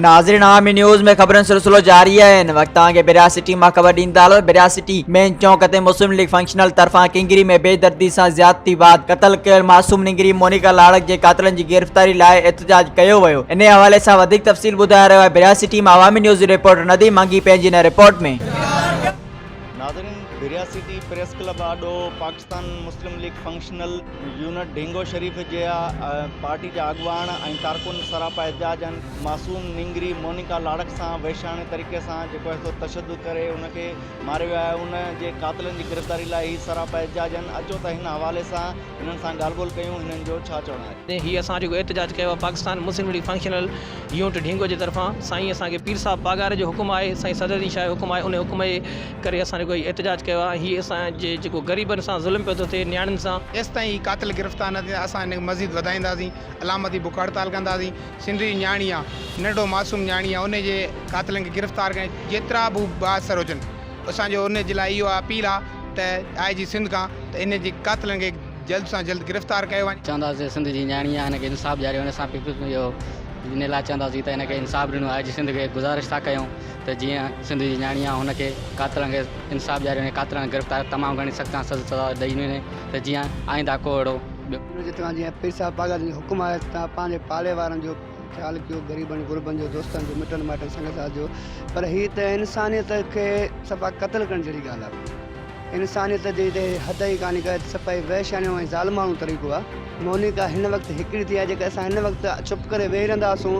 ناظرين عامي نيوز ۾ خبرن سلسلو جاري آهي ان وقت توهان کي بريا سٽي مان خبر ڏيندا هلو بريا سٽي مين چونڪ تي مسلم ليگ فنڪشنل طرفان ڪنگري ۾ بي دردي سان زيادتي بعد قتل ڪيل معصوم ننگري مونيڪا لاڙڪ جي قاتلن جي گرفتاري لاء احتجاج ڪيو ويو ان حوالي سان وڌيڪ تفصيل ٻڌائي رهيو آهي بريا سٽي مان عوامي نيوز جي رپورٽر نديم منگي پنهنجي ان رپورٽ ۾ ناظرين بريا سٽي پريس ڪلب آڏو پاڪستان مسلم ليگ فنڪشنل يونٽ ڍينگو شريف جي پارٽي جا اڳواڻ ۽ ڪارڪن سراپا احتجاج ۽ معصوم نينگري مونيڪا لاڙڪ سان وحشياڻي طريقي سان جيڪو اهو تشدد ڪري ان کي ماري ويا ان جي قاتلن جي گرفتاري لاء هي سراپا احتجاج اچو ته هن حوالي سان هنن سان ڳالهه ٻولهه ڪيون هنن جو ڇا چوڻ آهي. تي هي اسان جيڪو احتجاج ڪيو آهي پاڪستان مسلم ليگ فنڪشنل يونٽ ڍينگو جي طرفان سائين اسان کي پير صاحب پاڳاري جو حڪم آهي سائين صدر الدين شاهه جو حڪم آهي انهي حڪم جي ڪري اسان جيڪو هي احتجاج ڪيو آهي هي اسان جي جيڪو غريبن سان ظلم پيو ٿو ٿئي نياڻين سان ايستائين هي قاتل گرفتار نه ٿيندا اسان هن کي مزيد وڌائينداسين علامتي بک هڙتال ڪنداسين سنڌ جي نياڻي آ ننڍڙو معصوم نياڻي آ انهي جي قاتلن کي گرفتار ڪري جيترا به بااثر هجن. اسان جو انهن جي لاء اهو اپيل آ ته آء جي سنڌ کان ته انهن جي قاتلن کي جلد سان جلد گرفتار ڪيو وڃي. چونداسين سنڌ جي نياڻي آ هن کي انصاف ڏياريو وڃي اسان پيپلز جو ان لاء چونداسين ته هن کي انصاف ڏنو آء جي سنڌ کي گذارش ٿا ڪيون ته جيئن سنڌ جي نياڻي آ هن کي قاتلن کي انصاف ڏياريو وڃي قاتلن کي گرفتار تمام گهڻي سخت کان سخت سزا ڏئي وڃي ته جيئن آئنده ڪو اهڙو ٻيو جتان جيئن پير صاحب باگڙ جي حڪم آهي ته تنهن پنهنجي پاڙي وارن جو. خيال ڪيو غريبن غربن جو دوستن جو مٽن مائٽن سنگ ساٿ جو پر هي ته انسانيت کي صفا قتل ڪرڻ جهڙي ڳالهه آهي انسانيت جي ته حد ئي ڪاني ڪا صفائي وحشيانو ۽ ظالمانو طريقو آهي مونيڪا هن وقت هڪڙي ٿي آهي جيڪا اسان هن وقت چپ ڪري ويهي رهنداسون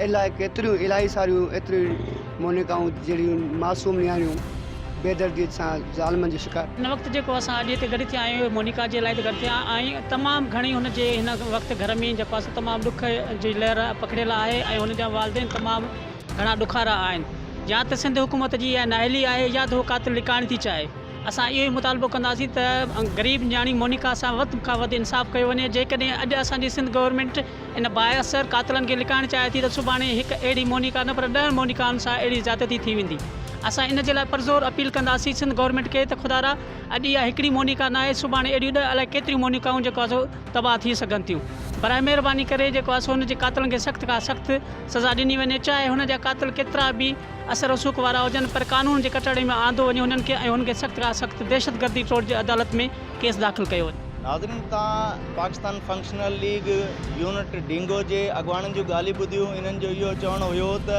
الاء ڪيتريون الاهي ساريون ايتريون مونيڪائون جهڙيون معصوم نياڻيون بيدرديء سان ظالمن جو شڪار. هن وقت جيڪو اسان اڄ هتي گڏ ٿيا آهيون اهو مونيڪا جي لاء ته گڏ ٿيا آهيون تمام گهڻي هن جي هن وقت گهر ۾ جيڪو آهي سو تمام ڏک جي لهر پکڙيل آهي ۽ هن جا والدين تمام گهڻا ڏکارا آهن يا ته سنڌ حڪومت جي اها نااهلي آهي يا ته هو قاتل لڪائڻ ٿي چاهي. اسان اهو ئي مطالبو ڪنداسين ته غريب نياڻي مونيڪا سان وڌ کان وڌ انصاف ڪيو وڃي جيڪڏهن اڄ اسان جي سنڌ گورنمينٽ ان بااثر قاتلن کي لڪائڻ چاهي ٿي ته سڀاڻي هڪ اهڙي مونيڪا نه پر ڏهن مونيڪائن سان اهڙي زيادتي ٿي ويندي اسان ان جي لاء پرزور اپيل ڪنداسين سنڌ گورنمينٽ کي ته خدارا اڄ اها هڪڙي مونيڪا ناهي سڀاڻي اهڙيون ڏهه الائي ڪيتريون مونيڪائون جيڪو آسو تباهه ٿي سگهن ٿيون برائي مهرباني ڪري جيڪو آسو ان جي قاتلن کي سخت کان سخت سزا ڏني وڃي چاهي هن جا قاتل ڪيترا به اثر رسوخ وارا هجن پر قانون جي ڪٽهڙي ۾ آندو وڃي هنن کي ۽ هن کي سخت کان سخت دهشت گردي ٽوڙ جي عدالت ۾ ڪيس داخل ڪيو وڃي. ناظرين تان پاڪستان فنڪشنل ليگ يونٽ ڊينگو جي اڳواڻن جون ڳالهيون ٻڌيون انهن جو اهو چوڻ هيو ته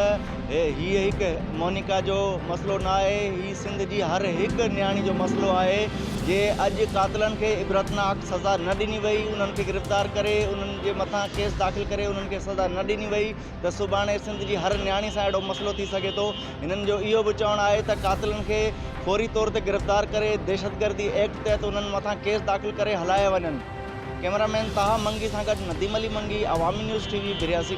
هي هڪ مونيڪا جو مسئلو نه آهي هي سنڌ جي هر هڪ نياڻي جو مسئلو آهي جي اڄ قاتلن کي عبرتناڪ سزا نه ڏني وئي انهن کي گرفتار ڪري انهن جي مٿان ڪيس داخل ڪري انهن کي سزا نه ڏني وئي ته سڀاڻي سنڌ جي هر نياڻي سان اهڙو مسئلو ٿي سگهي ٿو، هنن جو اهو به چوڻ آهي ته قاتلن کي فوري طور تي گرفتار ڪري دهشتگردي ايڪٽ تحت انهن مٿان ڪيس داخل ڪري هلايا وڃن. ڪئميرا مين طه منگي سان گڏ نديم علي منگي، عوامي نيوز ٽي وي، برياسي.